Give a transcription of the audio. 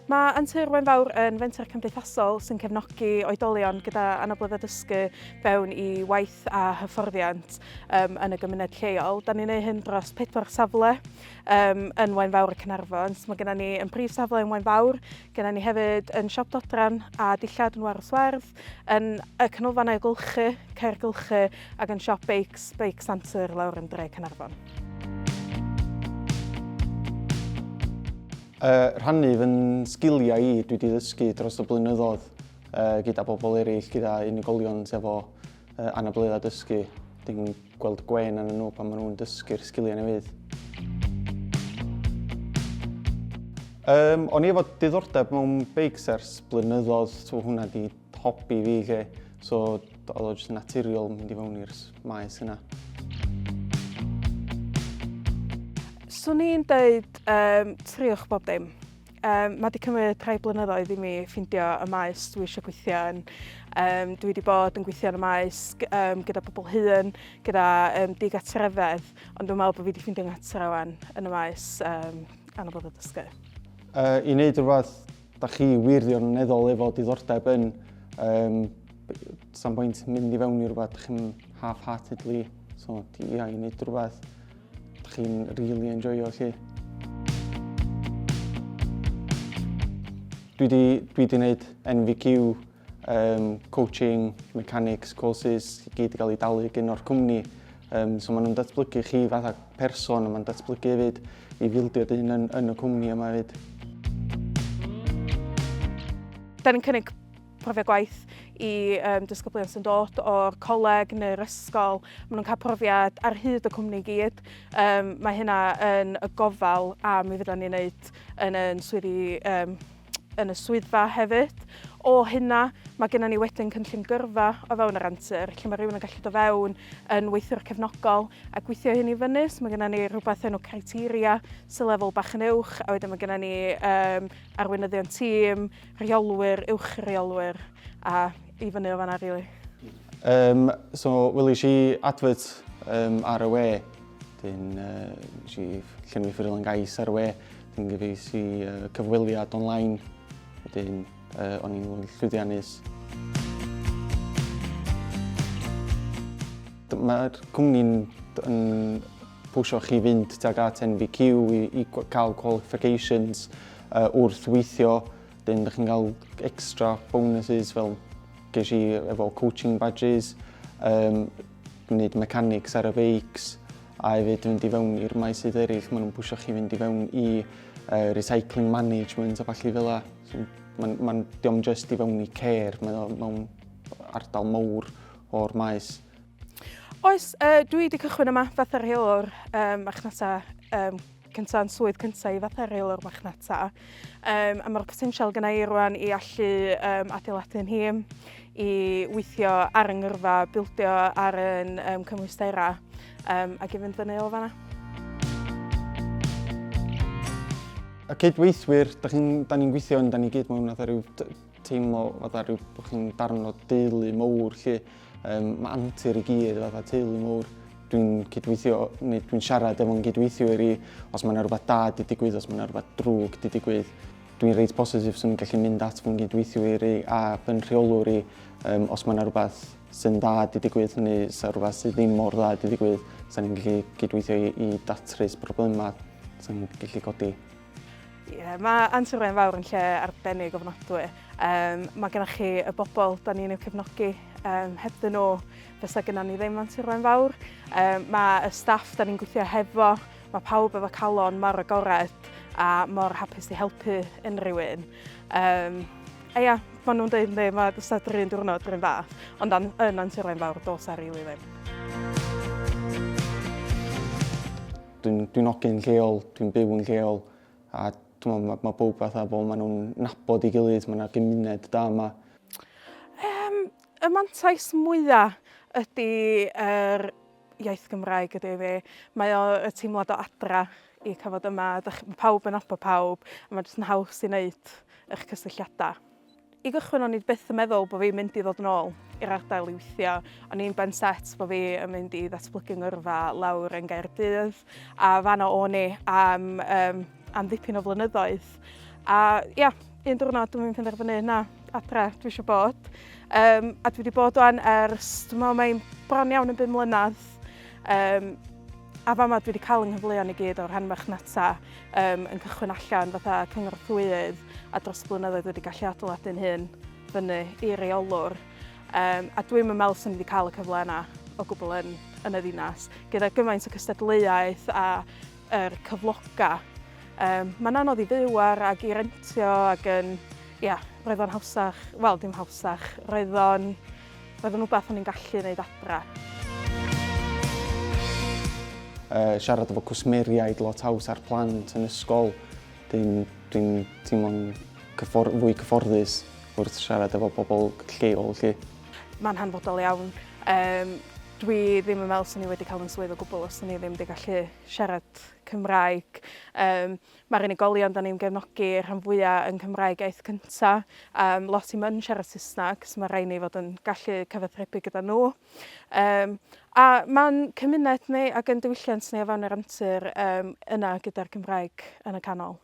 Mae Antur Wen Fawr yn fenter cymdeithasol sy'n cefnogi oedolion gyda anabledda dysgu fewn i waith a hyfforddiant um, yn y gymuned lleol. Da ni'n ei hyn dros pedwar safle um, yn Wen Fawr y Cynarfon. So mae gennym ni yn prif safle yn Wen Fawr, Gennym ni hefyd yn Siop Dodran a dillad yn Warws Werdd, yn y Canolfan Ailgylchu, Caergylchu ac yn Siop Beics, Beic Santur lawr yn Dre Caernarfon. Uh, rhannu fy sgiliau i dwi wedi ddysgu dros y blynyddoedd uh, gyda bobl eraill, gyda unigolion sydd efo Uh, anabledda dysgu, dyn nhw'n gweld gwen yn nhw pan maen nhw'n dysgu'r sgiliau newydd. Um, o'n i efo diddordeb mewn beics ers blynyddoedd, so hwnna di hobi fi lle. So oedd o jyst naturiol mynd i fewn i'r maes yna. Swn i'n dweud um, triwch bob dim. Um, mae wedi cymryd rhai blynyddoedd i mi ffindio y maes dwi eisiau gweithio yn. Um, dwi wedi bod yn gweithio yn y maes um, gyda pobl hun, gyda um, digatrefedd, ond dwi'n meddwl bod fi wedi ffindio nghatro wan yn y maes um, anabod o dysgu. Uh, I wneud rhywbeth da chi wirioneddol efo diddordeb yn, um, sa'n bwynt mynd i fewn i rhywbeth da chi'n half-heartedly, so ia, i wneud rhywbeth Dych chi'n really enjoyo chi. Dwi di, dwi di wneud NVQ, um, coaching, mechanics, courses, i gyd i gael ei dalu gyn o'r cwmni. Um, so maen nhw'n datblygu chi fatha person, maen nhw'n datblygu hefyd i fildio dyn yn, yn y cwmni yma hefyd. Da ni'n cynnig profiad gwaith i um, disgyblion sy'n dod o'r coleg neu'r ysgol. Maen nhw'n cael profiad ar hyd y cwmni gyd. Um, mae hynna yn y gofal a mi fydda ni'n wneud yn, yn, swyddi, um, yn y swyddfa hefyd. O hynna, mae gennym ni wedyn cynllun gyrfa o fewn yr antur, lle mae rhywun yn gallu do fewn yn weithiwr cefnogol a gweithio hyn i fyny. So mae gennym ni rhywbeth enw criteria sy'n lefel bach yn uwch, a wedyn mae gennym ni um, arweinyddion tîm, rheolwyr, uwch reolwyr a i fyny o fanna rili. Um, so welish i advert um, ar y we, dyn uh, si llenwi ffurflen gais ar y we, dyn gyfeis i uh, cyfweliad online, dyn uh, o'n i'n llwyddiannus. Mae'r cwmni'n pwsio chi fynd tuag at NVQ i, i cael qualifications uh, wrth weithio. Dyn, da chi'n cael extra bonuses fel ges i efo coaching badges, um, gwneud mechanics ar y beics, a hefyd fynd i fewn i'r maes sydd eraill, maen nhw'n pwysio chi fynd i fewn i uh, recycling management a falle fel la. So, maen, maen, diom just i fewn i care, mae'n mewn ardal mawr o'r maes. Oes, uh, dwi wedi cychwyn yma fatha rheolwr um, marchnata um, cynta yn swydd cynta i fatha rheolwr marchnata. Um, a mae'r potensial gyda i rwan i allu um, adeiladu'n hîm, i weithio ar yngyrfa, bildio ar yn um, cymwysterau um, ac i fynd fyny o fanna. Y cydweithwyr, da ni'n ni gweithio yn, da ni gyd mewn atho rhyw Teimlo fatha rhyw bod chi'n darn o deulu mowr 'lly. Yym ma' antur i gyd fatha teulu mowr. Dwi'n cydweithio neu dwi'n siarad efo 'yn gydweithiwr i os ma' 'na rwbath da 'di digwydd os ma' 'na rwbath drwg 'di digwydd. Dwi'n reit bositif swn i'n gallu mynd at fy'n gydweithiwr i a fy'n rheolwr i yym os ma' 'na rwbath sy'n dda 'di digwydd neu 'sa rwbath sydd ddim mor dda 'di digwydd 'sa ni'n gallu cydweithio i i datrys problemau 'sa ni'n gallu codi. Ie, mae Antur Wren Fawr yn lle arbennig ofnadwy. Um, mae gennych chi y bobl da ni'n eu cefnogi. Um, heb dyn nhw, fysa gyda ni ddim Antur Wren Fawr. Um, mae y staff da ni'n gweithio hefo, mae pawb efo calon mor agored a mor hapus i helpu unrhyw un. Um, a ia, maen nhw'n dweud, mae mae dysa drin diwrnod rhywun fath, ond an, yn Antur Wren Fawr, dos ar rili ddim. Dwi'n dwi hogyn lleol, dwi'n byw yn lleol a dwi'n meddwl mae bawb fatha bod maen nhw'n nabod i gilydd, mae yna gymuned da yma. Um, y mantais mwyaf ydy yr iaith Gymraeg ydy fi. Mae o y teimlad o adra i cael fod yma. Mae pawb yn nabod pawb a mae jyst yn haws i wneud eich cysylltiadau. I gychwyn o'n i byth yn meddwl bod fi'n mynd i ddod yn ôl i'r ardal i weithio. O'n i'n ben set bod fi yn mynd i ddatblygu ngyrfa lawr yn Gaerdydd a fanna o'n i am, um, am ddipyn o flynyddoedd. A ia, un diwrnod dwi'n penderfynu na, adre dwi eisiau bod. Um, a dwi wedi bod o'n ers, dwi'n meddwl mae'n bron iawn yn bum mlynedd. Um, a fama dwi wedi cael yng nghyfleon i gyd o'r rhan marchnata. Yym, yn cychwyn allan fatha cyngorthwyydd a dros y blynyddoedd wedi gallu adeiladu'n hun fyny i reolwr um, a dwi'm yn meddwl sy'n wedi cael y cyfle yna o gwbl yn, yn y ddinas. Gyda gymaint o cystadleuaeth a er, cyfloga, um, mae'n anodd i fyw ar ac i rentio ac yn, ia, roedd o'n hawsach, wel dim hawsach, roedd o'n Roedd yn rhywbeth o'n i'n gallu wneud adre. Uh, siarad efo cwsmeriaid lot haws a'r plant yn ysgol. Dwi'n dwi teimlo'n cyffor fwy cyfforddus wrth siarad efo bobl lleol lle. Mae'n hanfodol iawn. Um, dwi ddim yn meddwl sy'n ni wedi cael yn swydd o gwbl os ni ddim wedi gallu siarad Cymraeg. Um, Mae'r unigolion dan ni'n gefnogi rhan fwya yn Cymraeg iaith cynta, um, lot i'm yn siarad Saesneg, so mae rhaid ni fod yn gallu cyfathrebu gyda nhw. Um, a mae'n cymuned ni ac yn diwylliant ni o fewn yr amser um, yna gyda'r Cymraeg yn y canol.